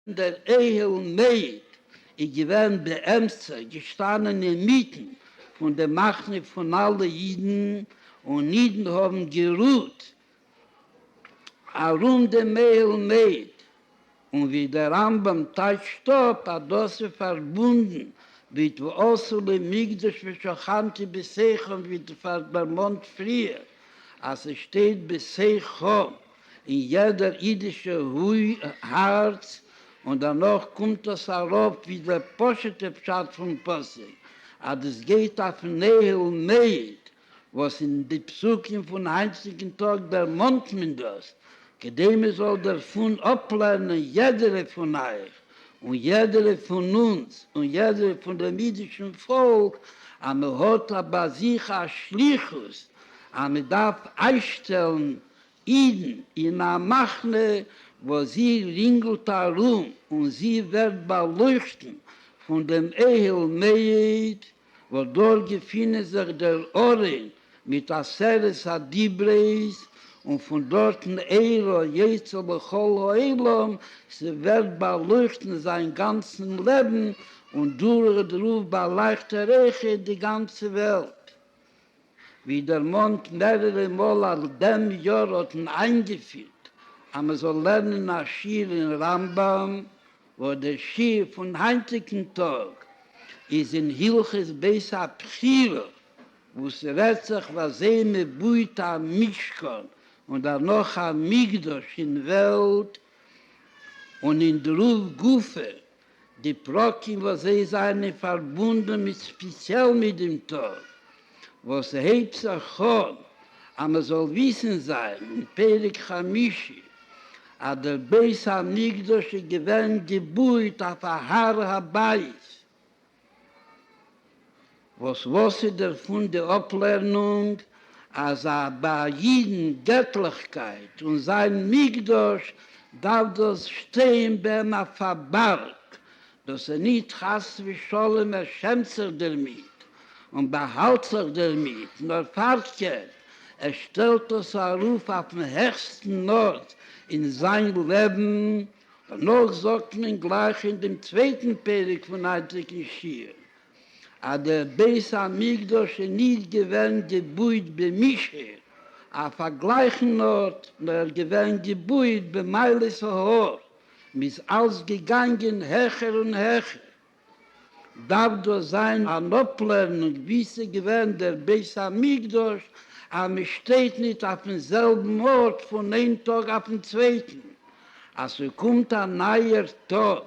דער אהל מעיד איז געווען באמצע געשטאנען אינמיטן פון די מחנה פון אלע אידן, און אידן האבן גערוהט ארום דעם אהל מעיד, און ווי דער רמב ם טייטשט אפ אז דאס איז פארבונדן מיט ועשה לי מקדש ושכנתי בשיחם ווי דערמאנט פריער אז עס שטייט בשיחם. אין יעדער אידישע הארץ, און דערנאך קומט עס ארויף ווי דער פשוט'ע פשט פון פסוק, אז עס גייט אויפן נהל מעיד, וואס אין די פסוקים פון היינטיגן טאג דערמאנט מען דאס, כדי מען זאל דערפון אפלערנען יעדערע פון אייך, און יעדערע פון אונז, און יעדערע פון דעם אידישן פאלק, אז מען האט ביי זיך א שליחות, אז מען דארף איינשטעלן אידן אין א מחנה וואס זי רינגלט ארום און זי ווערט באלויכטן פון דעם אהל מועד וואס דארט געפינען זיך דער ארון מיט עשרת הדיברות און פון דארטן אור היוצא לכל העולם, ס'ווערט באלויכטן זיין גאנצן לעבן און דורכדרויף באלייכט ער אויכעט די גאנצע וועלט ווי דערמאנט מערערע מאל אז דעם יאר האט מען איינגעפירט אז מען זאל לערנען א שיעור אין רמב ם, וואס דער שיעור פון היינטיגן טאג איז אין הלכות בית הבחירה, וואס רעדט זיך וואס זי מען בויט א משכן און דערנאך א מקדש אין וועלט, און אין דרוב גופא די פרקים וואס זיי זיינען פארבונדען מיט ספיציעל מיט דעם טאג וואס הייבט זיך אן, אז מען זאל וויסען זיין אין פרק חמישי אז דער בית המקדש איז געווען געבויט אויף א הר הבית, וואס וואס איז דערפון די אפלערנונג אז ביי א אידן געטליכקייט און זיין מקדש דארף דאס שטיין ביים א פארבארג, דאס איז ניט חס ושלום ער שעמט זיך דערמיט און באהאלט זיך דערמיט, נאר פארקערט ער שטעלט דאס ארויף אויפן העכסטן ארט אין זיין לעבן, דערנאך זאגט מען גלייך אין דעם צווייטן פרק פון היינטיגן שיעור, אז דער בית המקדש איז נישט געווען געבויט במישור אויף א גלייכן ארט, נאר ער איז געווען געבויט במעלות ההר, מען איז אלץ געגאנגען העכער און העכער, דארף דאס זיין אן אפלערנונג ווי ס'איז געווען דער בית המקדש, אז מ'שטייט ניט אויפ'ן זעלבן ארט פון איין טאג אויפ'ן צווייטן, אז ס'קומט א נייער טאג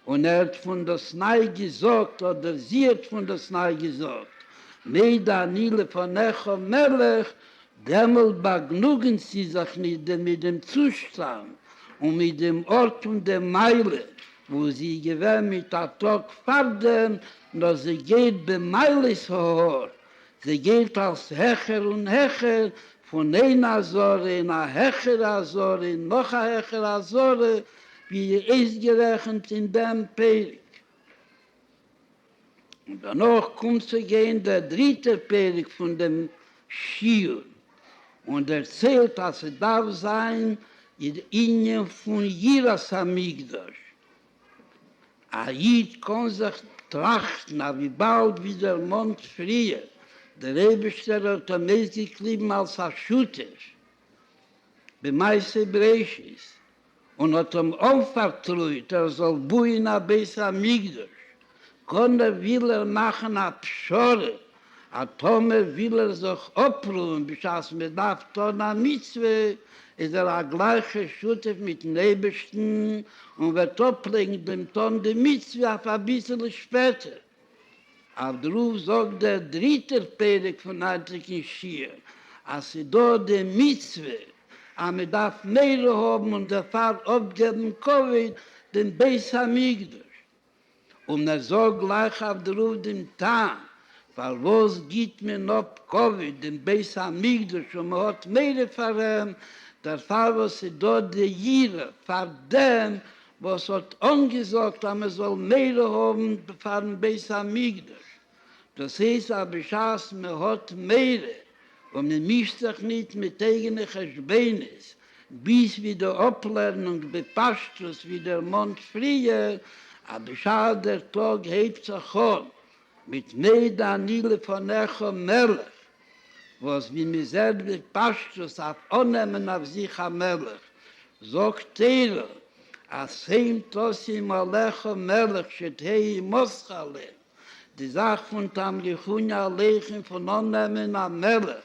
און הערט פון דאס ניי געזאגט אדער זי האט פון דאס ניי געזאגט, מעיד אני לפניך מלך, דעמאלט באגנוגענט זי זיך ניט מיט דעם צושטאנד און מיט דעם ארט און דעם מעלה, וואו זי איז געווען מיט א טאג פארדעם, נאר זי גייט במעלות ההר, זי גייט אלס העכער און העכער, פון איין אזהרה אין א העכערע אזהרה אין נאך א העכערע אזהרה, ווי אויסגערעכנט אין דעם פרק. און דערנאך קומט צו גיין דער דריטער פרק פון דעם שיעור, און דערציילט אז ס'דארף זיין די ענין פון יראת המקדש, א איד קען זיך טראכטן אז וויבאלד ווי דערמאנט פריער, דער אייבערשטער האט אים אויסגעקליבן אלס א שותף במעשה בראשית, און האט אים אנפארטרויט ער זאל בויען א בית המקדש, קען ער, וויל ער, מאכן א פשרה אז טאמער וויל ער זיך אפרוען בשעת מען דארף טון א מצוה, איז ער א גלייכע שותף מיטן אייבערשטן און וועט אפלייגן דעם טון די מצוה אויף אביסל שפעטער. אויף דערויף זאגט דער דריטער פרק פון ארטיגן שיעור אז ס'איז דא די מצוה אז מען דארף מורא האבן און דערפאר אפגעבן כבוד דעם בית המקדש, און ער זאגט גלייך אויף דערויף דעם טעם פארוואס גיט מען אפ כבוד דעם בית המקדש און מען האט מורא פאר אים, דערפאר וואס ס'איז דא די יראה פאר דעם וואס האט אנגעזאגט אז מען זאל מער האבן פארן בית המקדש, דאס הייסט אז בשעת מען האט מער און מען מישט זיך ניט מיט אייגענע חשבונות, ביז ווי די אפלערנונג בפשטות ווי דערמאנט פריער, אז בשעת דער טאג הייבט זיך אן מפני דאני לפניך מלך, וואס ווי מען זעט בפשטות אויף אננעמען אויף זיך א מלך, זאגט תורה אז הן תשים עליך מלך שתהא עמך ל, די זאך פון תמליכוני עליכם פון אננעמען א מלך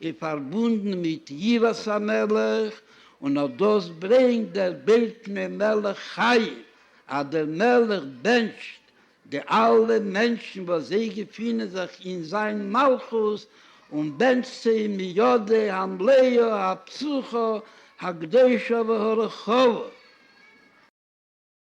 איז פארבונדן מיט יראת המלך, און אט דאס ברענגט דער בית פני מלך חיים, אז דער מלך בענטשט די אלע מענטשן וואס זיי געפינען זיך אין זיין מלכות, און בענטשט צו אים מידו המלאה הפסוחא הקדושה והרחבה.